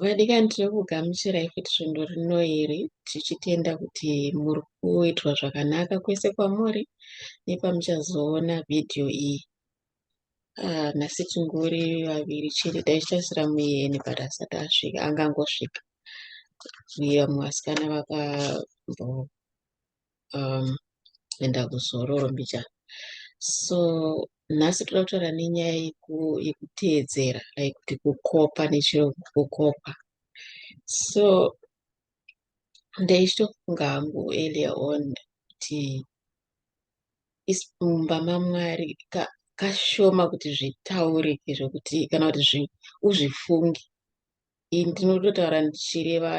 Vadikani tiri kugamuchirai futi svondo rino iri tichitenda kuti muri kuitwa zvakanaka kwese kwamuri nepamuchazoona vhidhiyo iyi. Ah, nhasi tingori vaviri chete dai tichasira muyeni but asati asvika angangosvika. Uye vamwe vasikana vakambogara um, enda kuzororo mbicha so nhasi toda kutaura nenyaya yekuteedzera like kuti kukopa nechiro kukopa so ndaichitofunga hangu earlier on kuti mumba mamwari kashoma kuti zvitaurike zvekuti kana kuti uzvifunge ini ndinototaura ndichireva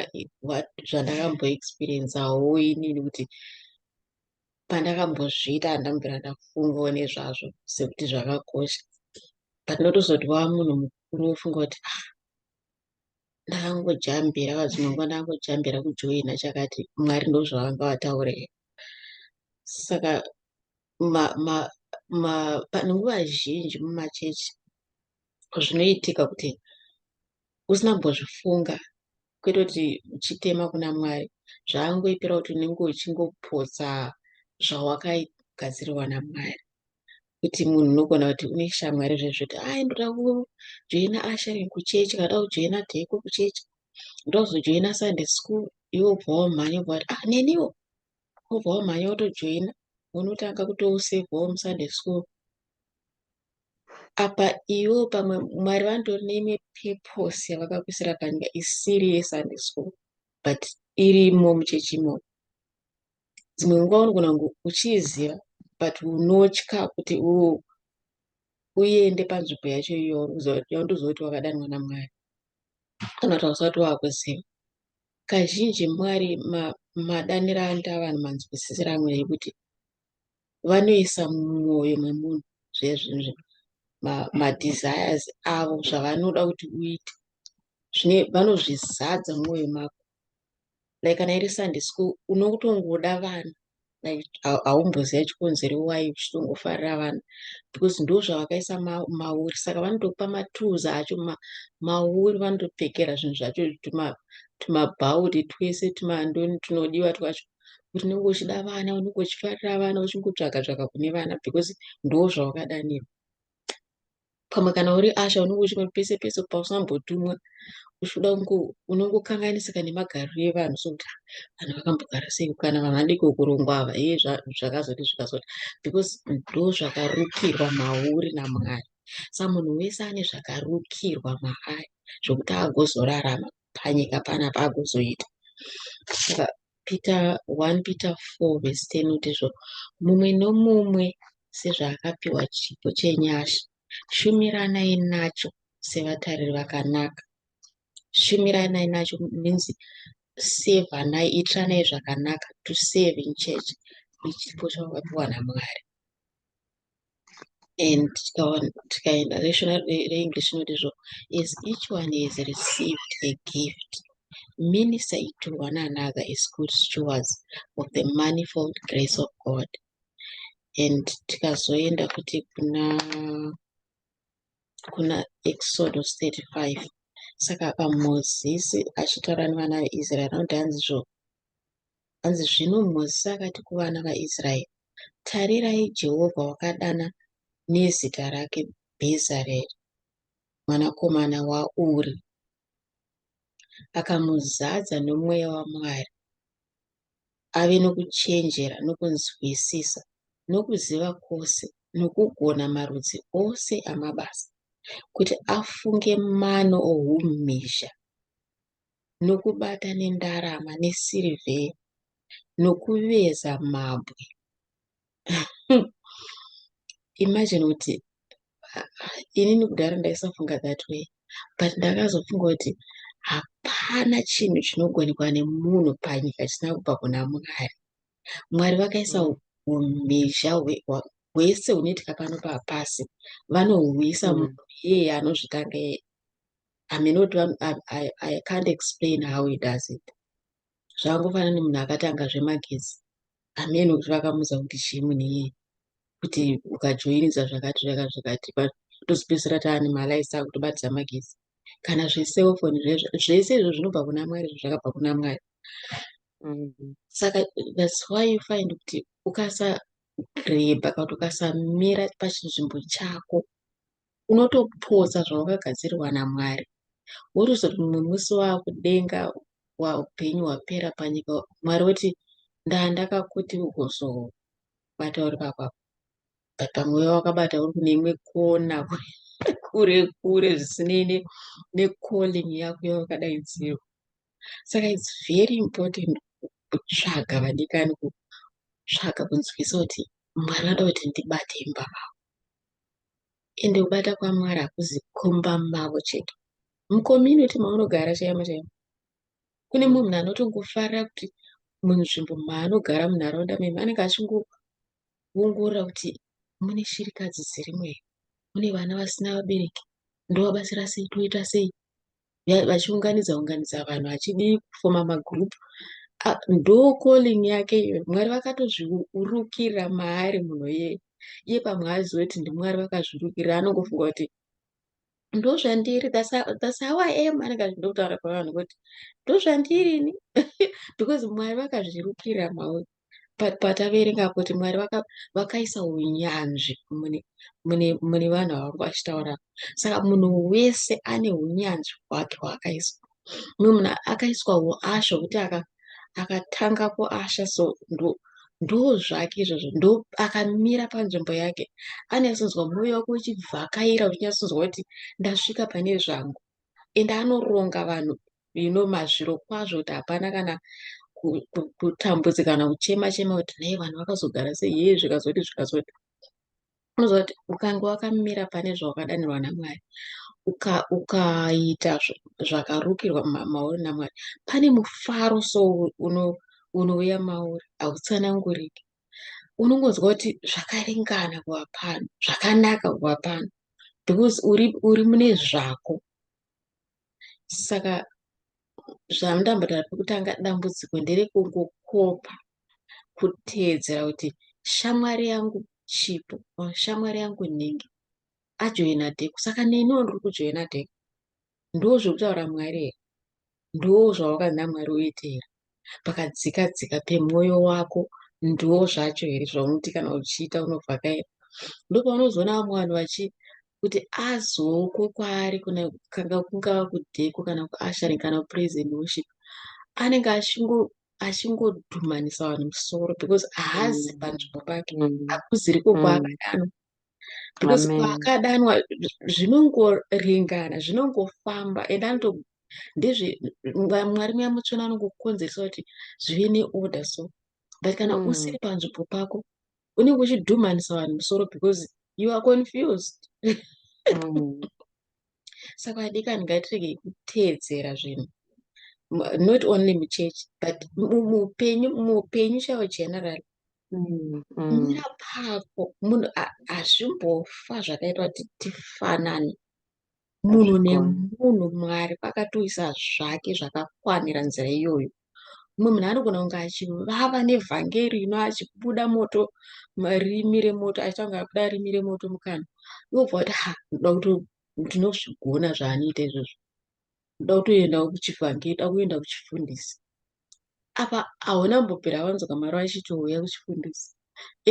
zvandakamboexperiensawo inini kuti pandakambozviita handambira ndafungawo nezvazvo sekuti zvakakosha but notozoti wava munhu mukuru wofunga kuti ah ndakangojambira vadzimwe nguva ndakangojambira kujoina chakati mwari ndozvavanga vataure saka panguva zhinji mumachechi zvinoitika kuti usina kumbozvifunga kwete kuti uchitema kuna mwari zvaangoitira kuti unenge uchingopotsa zvawakagadziriwa namwari kuti munhu unogona kuti une shamwari zvezvekuti ai ndoda kujoina asharing kuchechi kana ndoda kujoina dheko kuchechi ndoda kuzojoina sunday school iwe ubva wamhanya ubva kuti ah neniwo ubva wamhanya wotojoina unotanga kutousevhawo musunday school apa ivo pamwe mwari vanotori neimwe purpose yavakakuisira panyika isiri yesunday school but irimo muchechi imomo dzimwe nguva unogona kunge uchiiziva but unotya kuti uende panzvimbo yacho iyoyo yaundoziva kuti wakadanwa namwari kana kuti hausati waakuziva kazhinji mwari madaniro anoita vanhu manzwisisiro amwe yekuti vanoisa mumwoyo memunhu zvezvinhu madesires avo zvavanoda kuti uite zvine vanozvizadza mumwoyo mako like kana iri sunday school unotongoda vana like haumboziva chikonzero wai uchitongofarira vana because ndo zvavakaisa mauri saka vanotokupa matools acho mauri vanotopfekera zvinhu zvacho tumabhauri twese tumandoni tunodiwa twacho kuti unenge uchida vana unenge uchifarira vana uchingotsvaga tsvaga kune vana because ndo zvawakadanirwa pamwe kana uri asha unenge uchingoti pese pese pausambotumwa uchida kunge unongokanganisika nemagariro evanhu sokuti ah, vanhu vakambogara sei kana vanhu vadiki kurongwa ava ye zvakazoti zvikazoti because ndo zvakarukirwa mauri namwari sa munhu wese ane zvakarukirwa maari zvokuti agozorarama panyika pana paakuzoita saka peter 1 peter 4 vhesi 10 kuti zvo mumwe nomumwe sezvaakapiwa chipo chenyasha shumiranai nacho sevatariri vakanaka shumiranai nacho means sevanai itiranai zvakanaka to save in church ichipo chawakapiwa namwari and tikaenda reshona reenglish rinoti zvo as each one has received a gift many say to one another as good stewards of the manifold grace of god and tikazoenda kuti kuna kuna exodus 35 saka apa mozisi achitaura nevana veisraeri anoti hanzi zvo Hanzi zvino Mozisi akati kuvana vaIsraeri, Tarirai, Jehovha wakadana nezita rake Bhezareri mwanakomana waUri, akamuzadza nomweya waMwari, ave nokuchenjera nokunzwisisa nokuziva kwose nokugona marudzi ose amabasa, kuti afunge mano oumhizha nokubata nendarama nesirivheri, nokuveza mabwe. Imagine kuti inini kudhara ndaisafunga that way but ndakazofunga kuti hapana chinhu chinogonekwa nemunhu panyika chisina kubva kuna mwari mwari vakaisa umhizha hwese hunoitika pano papasi vanohuisa mm. munhu iyeye anozvitanga iyeye aminoti i can't explain how he does it zvakangofanana nemunhu akatanga zvemagetsi amene kuti vakamuudza kuti chii munhu iyeye kuti ukajoinisa zvakati zvakati zvakati tozopedzisira taane malaisi akutobatidza magezi kana zveselfoni zvese izvo zvinobva kuna mwari izvo zvakabva kuna mwari mm-hmm. saka thats why you find kuti ukasareba kana kuti ukasamira pachinzvimbo chako unotopotsa zvawakagadzirirwa naMwari wotozoti mumwe musi wakudenga upenyu hwapera panyika Mwari woti ndaa ndakakuti ugozobata uri pakwako but pamwe uya wakabata uri kune imwe kona kure kure zvisinei necalling yako yawakadaidzirwa saka its very important kutsvaga vadikani kutsvaga kunzwisa kuti mwari vanoda kuti ndibate imba vavo ende kubata kwamwari hakuzi kumba mavo chete mucommunity maunogara chaimo chaimo kune munhu anotongofarira kuti munzvimbo maanogara munharaunda memo anenge achingoongorora kuti mune shirikadzi dzirimo here mune vana vasina vabereki ndovabatsira sei toita sei vachiunganidza unganidza vanhu vachidii kufoma magroup ndo calling yake iyoyo mwari vakatozviurukira maari munhu yeye iye pamwe aziva kuti ndimwari vakazvirukira anongofunga kuti ndozvandiri thats how i am anenge achindokutaura pavanhu kuti ndozvandiri ini because mwari vakazvirukira mauti but pataverenga kuti mwari vakaisa vaka unyanzvi mune, mune, mune vanhu vavari vachitaura saka munhu wese ane unyanzvi hwake hwaakaiswa mumwe munhu akaiswa uasha hwekuti akatanga kuasha so ndo ndo zvake izvozvo ndo akamira panzvimbo yake anyatsonzwa mwoyo wake uchibvakaira uchinyatsonzwa kuti ndasvika pane zvangu ende anoronga vanhu you know mazviro kwazvo kuti hapana kana kutambudzi kana kuchema chema kuti nei vanhu vakazogara sei hee zvikazoti zvikazoti unoziva kuti ukange wakamira pane zvawakadanirwa namwari ukaita zvakarukirwa mauri namwari pane mufaro so unouya mauri hautsananguriki unongonzwa kuti zvakaringana kuva pano zvakanaka kuva pano because uri mune zvako saka zvandambotaura pekutanga dambudziko nderekungokopa kuteedzera kuti shamwari yangu chipo or shamwari yangu nhingi ajoina dheku saka neniwo ndiri kujoina dheku ndo zvekutaura mwari here ndo zvawakana mwari uite here pakadzika dzika pemwoyo wako ndiwo zvacho here zvaunoti kana uchiita unovhakaira ndopaunozoona vamwe vanhu vachi kuti azoko kwaari kuna kanga kungava kudheko kana kuashari kana kupraise and worship anenge achingo achingodhumanisa vanhu musoro because haazi mm. panzvimbo pake mm. hakuziriko mm. kwaakadano because paakadanwa zvinongoringana zvinongofamba and anoto ndizvi mwari muya mutsvene anongokonzeresa kuti zvive neorder so but kana mm. usiri panzvimbo pako unenge uchidhumanisa vanhu musoro because you are confused mm. saka adikani ngatirege kuteedzera zvinhu not only muchechi but muupenyu muupenyu chavo general mm, mm. napako munhu hazvimbofa zvakaitwa kuti tifanane munhu nemunhu mwari vakatoisa zvake zvakakwanira nzira iyoyo mumwe munhu anogona kunge achivava nevhangeri ino achibuda moto rimi remoto achiita kunge akuda rimi remoto mukana iwobva kuti ha ndoda kuti ndinozvigona zvaanoita izvozvo ndoda kutoendawo kuchivhange da kuenda kuchifundisi apa hauna mbopera vanzi kamari vachitouya kuchifundisi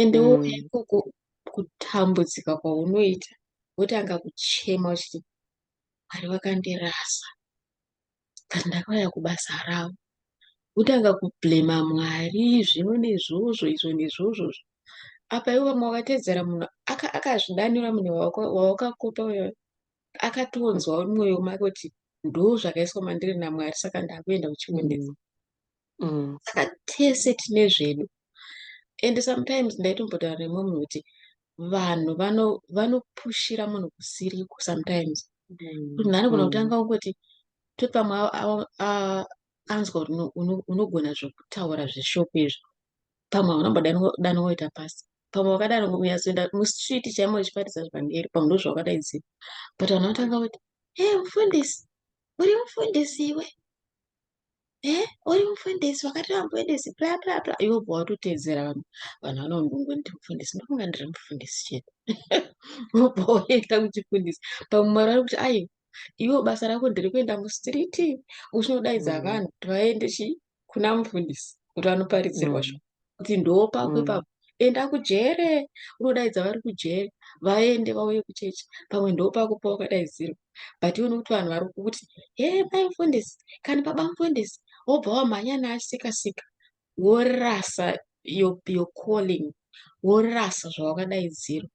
ende wo mm. ikoko kutambudzika kwaunoita wotanga kuchema uchiti mwari vakandirasa but ndakauya kubasa ravo wotanga kublema mwari zvino nezvozvo izvo nezvozvozvo apa ivo vamwe vakatedzera munhu akazvidanira munhu wawakakopa uyo akatonzwa mumwoyo make kuti ndo zvakaiswa mandiri namwari saka ndakuenda kuchionesa mm. mm. saka tese tine zvedu and sometimes ndaitombotaura nemwe munhu kuti vanhu vanopushira munhu kusiriko sometimes mm. kuti nhanogona mm. kutanga ungoti to pamwe anzwa kuti unogona zvekutaura zveshoko izvo pamwe hauna mbodani woita pasi pamwe wakadaro kunyazoenda mustreet chaimo uchiparidza zvivhangeri pamwe ndozvawakadaidzira but vanhu vatanga kuti e mufundisi uri mufundisi iwe e uri mufundisi wakati wamufundisi pla pla pla iwe bva watoteedzera vanhu vanhu vanongongo ndiri mufundisi ndokunga ndiri mufundisi chete wobva woenda kuchifundisi pamwe mwari vari kuti aiwa iwe basa rako ndiri kuenda mustreet uchinodaidza mm. vanhu kuti vaende chii kuna mufundisi kuti anoparidzirwa zvo kuti ndopako ipapo enda kujere unodaidza vari kujere vaende vauye kuchechi pamwe ndopako pawakadaidzirwa but ione kuti vanhu vari kuti he mai mufundisi kana baba mufundisi wobva wamhanya naasikasika worasa your calling worasa zvawakadaidzirwa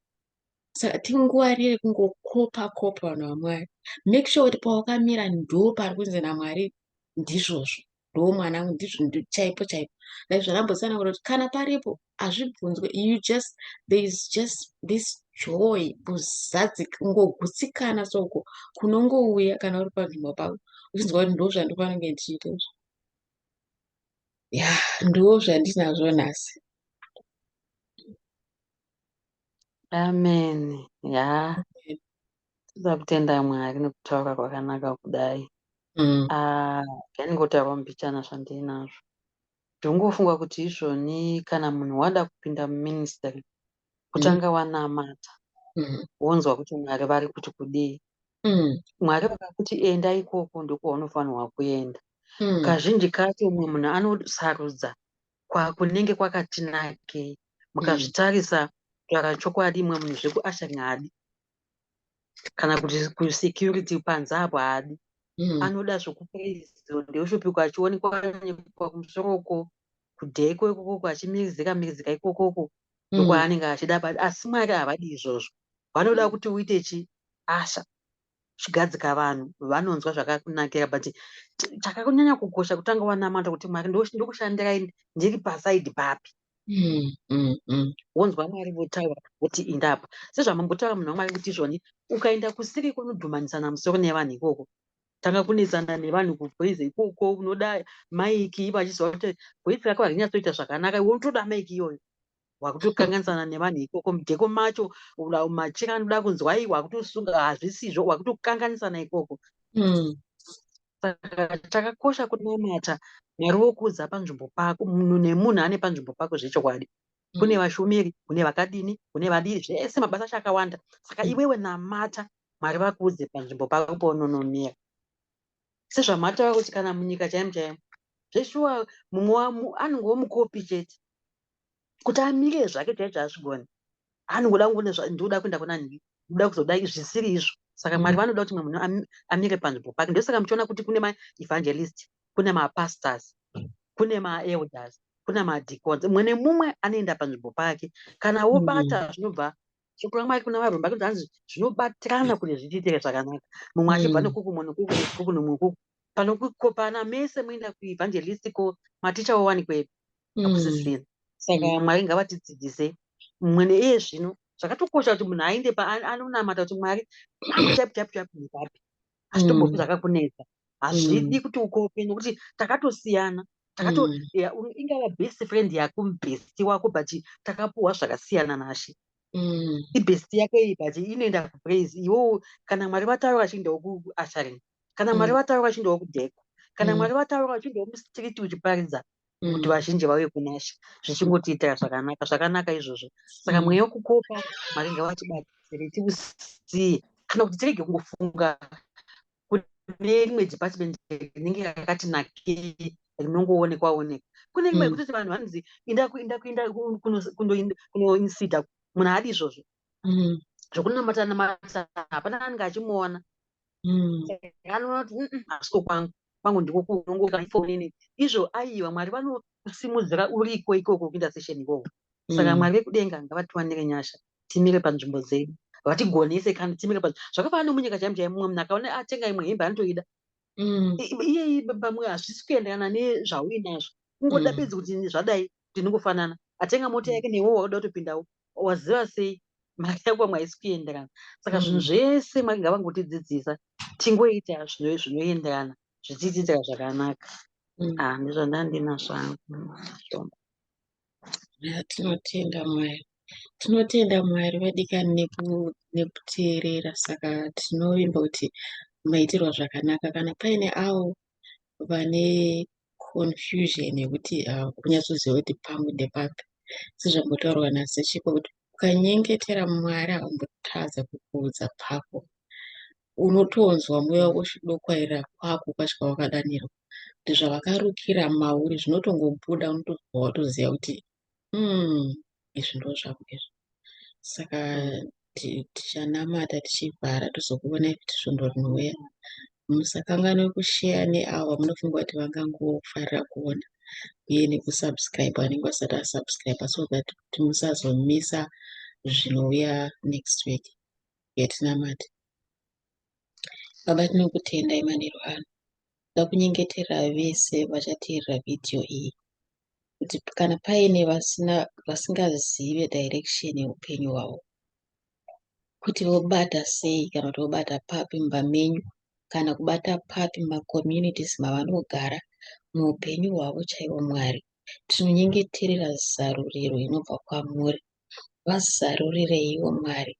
saka tingwarire kungokopa kopa vanhu vamwari make sure kuti pawakamira ndo pari kunzi namwari ndizvozvo ndo mwana ndizvo chaipo chaipo like zvarambosana kuti kana paripo hazvibvunzwe you just there is just this joy kuzadzi kungogutsikana soko kunongouya kana uri panzvimbo pako uchinzwa kuti ndo zvandofanenge ndichiita izvo ya ndo zvandinazvo nhasi Amen. Yeah. Toda kutenda Mwari nekutaura kwakanaka kudai. Mm. Ah, ndingotaura mbichana zvandinazvo. Ndongofunga kuti izvoni kana munhu wada kupinda muministry kutanga wanamata Mm. wonzwa kuti Mwari vari kuti kudii. Mm. Mwari vakakuti enda ikoko ndokwaunofana kuenda. Mm. Kazhinji kacho umwe munhu anosarudza kwakunenge kwakati nakei mukazvitarisa mm. kutaura chokwadi imwe munhu zvekuasha ngadi kana kuti kusecurity panze apo haadi mm. anoda zvekupraizo ndeushupiko achionekwa nekwa kumusoro uko kudheko ikokoko achimirizika mirizika ikokoko ndokwaanenge mm. achida bati asi mwari havadi izvozvo vanoda mm. kuti uite chi asha chigadzika vanhu vanonzwa zvakakunakira but chakakunyanya kukosha kutanga wanamata kuti mwari ndokushandirai ndiri pasaidi papi mm, mm, mm. wonzwa mwari votaura kuti indapa sezvamambotaura munhu wamwari kuti izvoni ukaenda kusiri kunodhumanisana musoro nevanhu ikoko tanga kunetsana nevanhu kuvoice ikoko unoda maiki ivo achiziva kuti voice rako harinyatsoita zvakanaka iwe unotoda maiki iyoyo wakutokanganisana nevanhu ikoko mudeko macho machira anoda kunzwa i wakutosunga hazvisizvo wakutokanganisana ikoko hmm. saka chakakosha kunamata mwari wokuudza panzvimbo pako munhu nemunhu ane panzvimbo pako zvechokwadi hmm. kune vashumiri kune vakadini kune vadiri zvese mabasa acho akawanda saka hmm. iwewe namata mwari vakuudze panzvimbo pako paunonomira sezvamataura kuti kana munyika chaimo chaimo zveshuwa mumwe anongowo mukopi chete kuti amire zvake chaicho hazvigoni anongoda kungone ndioda kuenda kuna nhi ndoda kuzoda zvisiri izvo saka mwari mm. vanoda kuti mwe munhu amire panzvimbo pake ndosaka muchiona kuti kune maevangelist kune mapastors kune maelders kune madicons mumwe nemumwe anoenda panzvimbo pake kana wobata mm. zvinobva shoko ramwari kuna varomba kuti hanzi zvinobatirana kuti zvichiitire zvakanaka mumwe achibva mm. nokuku mumwe nokuku nokuku nomwe nokuku panokukopana mese muenda kuevangelist ko maticha wowanikwepi akusisina mm. saka mm. mwari ngavatidzidzise mumwe neiye zvino zvakatokosha kuti munhu ainde paanonamata kuti mwari chapichapichapiapi hazvitombopi mm. zvakakunetsa hazvidi kuti ukope nokuti takatosiyana takato ingava best friend yako mubhesti wako but takapuwa zvakasiyana nashe Mm. ibhesti yake iyi but inoenda kupraise iwowo kana mwari vataura vachiendawo kuasharing kana mwari mm. vataura vachiendawo kudheko kana mm. mwari vataura vachiendawo mustreet uchiparidza kuti mm. vazhinji vauye kunashe zvichingotiitira zvakanaka zvakanaka izvozvo saka mm. mweya wekukopa mwari ngavatibatsire tiusiye kana kuti tirege kungofunga kune rimwe department rinenge rakati nake rinongoonekwa oneka kune rimwe mm. kutoti vanhu vanonzi inda kuinda kuinda kunoinsida munhu haadi izvozvo mm. zvekunamata namata hapana anenge achimuona mm. anoti hasiko kwangu kwangu ndiko kunongokafonini izvo aiwa mwari vanokusimudzira uriko ikoko kuita session ikoko mm. saka mwari vekudenga ngavatiwanire nyasha timire panzvimbo dzedu vatigonese kana timire pa zvakafanana nomunyika chaimo chaimo mumwe munhu akaona atenga imwe hembe anotoida Mm. iyeyi pamwe hazvisi kuenderana nezvauinazvo kungoda mm. bedzi kuti zvadai ndinongofanana atenga mota mm. yake newe wakuda kutopindawo waziva sei mari yako mwaisi kuenderana saka zvinhu mm. zvese mwari ngavangotidzidzisa tingoita zvinoenderana zvichiitira zvakanaka mm. ah, ndizvandandinazvo hangu tinotenda mwari tinotenda mwari vadikani nekuteerera saka tinovimba kuti maitirwa zvakanaka kana paine avo vane confusion yekuti ah, kunyatsoziva kuti pangu ndepapi sezvambotaurwa nasechipo kuti ukanyengetera mwari avambotadza kukuudza pako unotonzwa mweya wako uchidokwaira kwako kwasvika wakadanirwa kuti zvavakarukira mauri zvinotongobuda unotonzwa watoziva kuti Hmm, izvi ndo zvako izvi saka tichanamata tichivhara tozokuonai kuti svondo rinouya musakanganwe kusheya neavo munofunga kuti vangangofarira kuona uye nekusubscribe anenge asati asubscribe so that kuti musazomisa zvinouya next week yatinamati baba tinokutendai manheru ano Tinoda kunyengetera vese vachateerera vhidhiyo iyi kuti kana paine vasina vasingazive direction yeupenyu hwavo kuti vobata sei kana kuti vobata papi mumba menyu kana kubata papi macommunities mavanogara muupenyu hwavo chaivo Mwari tinonyengeterera zaruriro inobva kwamuri vazarurireiwo Mwari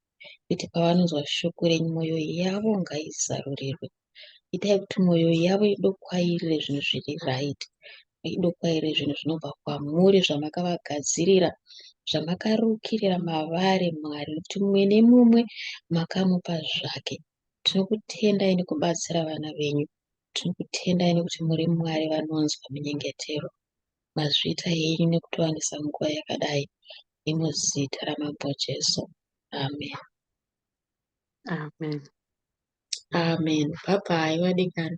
kuti pavanonzwa shoko renyu mwoyo yavo ngaizarurirwe. Itai kuti mwoyo yavo idokwairire zvinhu zviri right, idokwairire zvinhu zvinobva kwamuri zvamakavagadzirira, zvamakarukirira mavari Mwari, kuti mumwe nemumwe makamupa zvake. Tinokutendai nekubatsira vana venyu, tinokutendai nekuti muri Mwari vanonzwa minyengetero. mazviita henyu nekutiwanisa nguva yakadai nemuzita ramambo Jesu. Amen. Amen. Amen. Bye bye, vadikani.